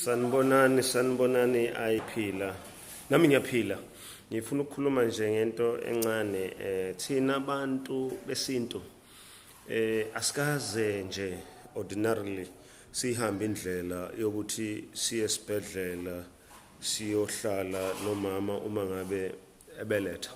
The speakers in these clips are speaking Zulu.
Sanibonani, sanibonani ayiphila. Nami ngiyaphila. Ngifuna ukukhuluma nje ngento encane eh thina abantu besintu eh asikaze nje ordinarily sihambe indlela yokuthi siye esibhedlela siyohlala nomama uma ngabe ebeletha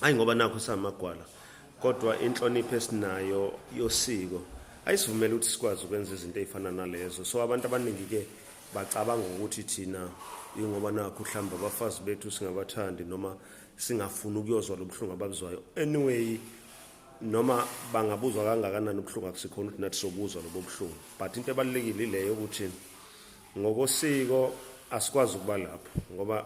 ayi ngoba nakho samagwala kodwa inhlonipho esinayo yosiko ayisivumela ukuthi sikwazi ukwenza izinto ezifana nalezo so abantu abaningi ke bacabanga ukuthi thina ingoba nakho mhlawumbe abafazi bethu singabathandi noma singafuni ukuyozwa lobuhlungu ababuzwayo anyway noma bangabuzwa kangakanani ubuhlungu akusikhona ukuthi nathi sobuzwa lobo buhlungu but into ebalulekile ileyo ukuthi ngokosiko asikwazi ukuba lapho ngoba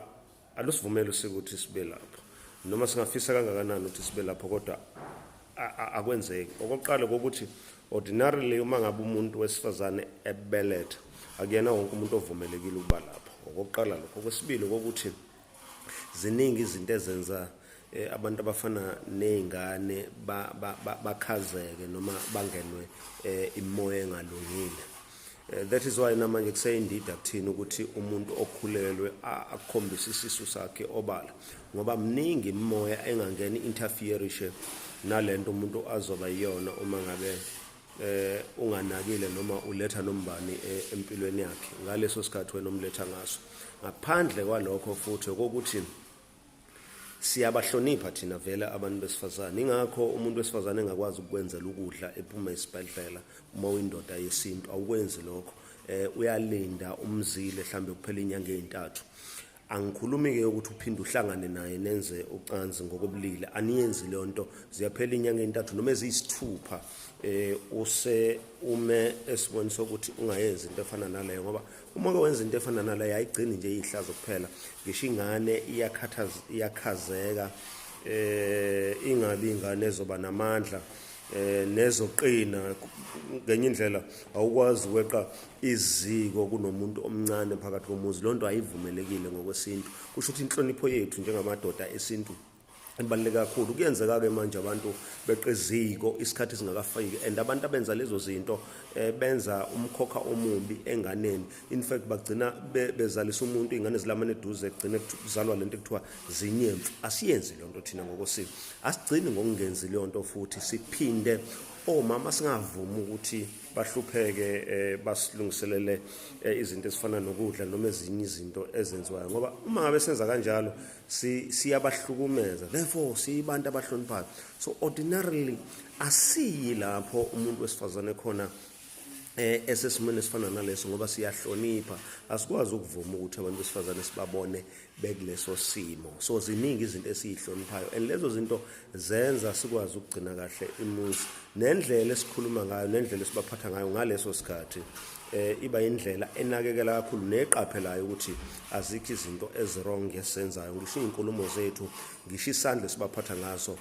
alusivumeli usiko ukuthi sibe lapho noma singafisa kangakanani ukuthi sibe lapho kodwa akwenzeki okokuqala kokuthi ordinarily uma ngabe umuntu wesifazane ebeletha akuyena wonke umuntu ovumelekile ukuba lapho okokuqala lokho okwesibili kokuthi ziningi izinto ezenza eh, abantu abafana nezingane bakhazeke noma bangenwe eh, imoya engalungile Eh, that is why namanje kuseyindida kuthina ukuthi umuntu okhulelwe akukhombise isisu sakhe obala ngoba mningi imimoya engangeni interferishe nalento umuntu azoba iyona uma ngabe eh unganakile noma uletha nombani eh, empilweni yakhe ngaleso sikhathi wena umletha ngaso ngaphandle kwalokho futhi ukuthi siyabahlonipha thina vele abantu besifazane ingakho umuntu wesifazane engakwazi ukukwenzela ukudla ephuma esibhedlela uma uyindoda yesintu awukwenzi lokho eh uyalinda umzile mhlambe kuphela inyanga ezintathu angikhulumi ke ukuthi uphinde uhlangane naye nenze ucansi ngokobulili aniyenzi leyo nto ziyaphela inyanga ezintathu noma eziyisithupha eh use ume esiboni sokuthi ungayenzi into efana naleyo ngoba Uma ke wenza into efana naleyo ayigcini nje iyihlazo kuphela ngisho ingane iyakhathaza iyakhazeka eh ingabi ingane ezoba namandla eh nezoqina ngenye indlela awukwazi ukweqa iziko kunomuntu omncane phakathi komuzi lonto ayivumelekile ngokwesintu kusho ukuthi inhlonipho yethu njengamadoda esintu ebaluleke kakhulu kuyenzeka-ke manje abantu beqa eziko isikhathi singakafiki and abantu abenza lezo zinto um benza umkhokha omubi enganeni in fact bagcina bezalisa umuntu iy'ngane zilamane eduze kugcine kuzalwa le nto ekuthiwa zinyemfu asiyenzi leyo nto thina ngokosiko asigcini ngokungenzi leyo nto futhi siphinde omama singavumi ukuthi bahlupheke eh, basilungiselele eh, izinto ezifana nokudla noma ezinye izinto ezenziwayo ngoba uma ngabe senza kanjalo siyabahlukumeza therefore siyibantu abahloniphayo so ordinarily asiyi lapho umuntu wesifazane khona eh esesimene esifana naleso ngoba siyahlonipha asikwazi ukuvuma ukuthi abantu besifazane sibabone bekuleso simo so ziningi izinto esizihloniphayo and lezo zinto zenza sikwazi ukugcina kahle imuzi nendlela esikhuluma ngayo nendlela esibaphatha ngayo ngaleso sikhathi eh iba indlela enakekela kakhulu neqaphelayo ukuthi azikho izinto ezirong ngesenzayo ngisho izinkulumo zethu ngisho isandla sibaphatha ngaso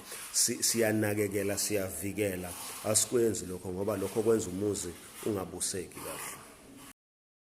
siyanakekela siyavikela asikwenzi lokho ngoba lokho kwenza umuzi ungabuseki kahle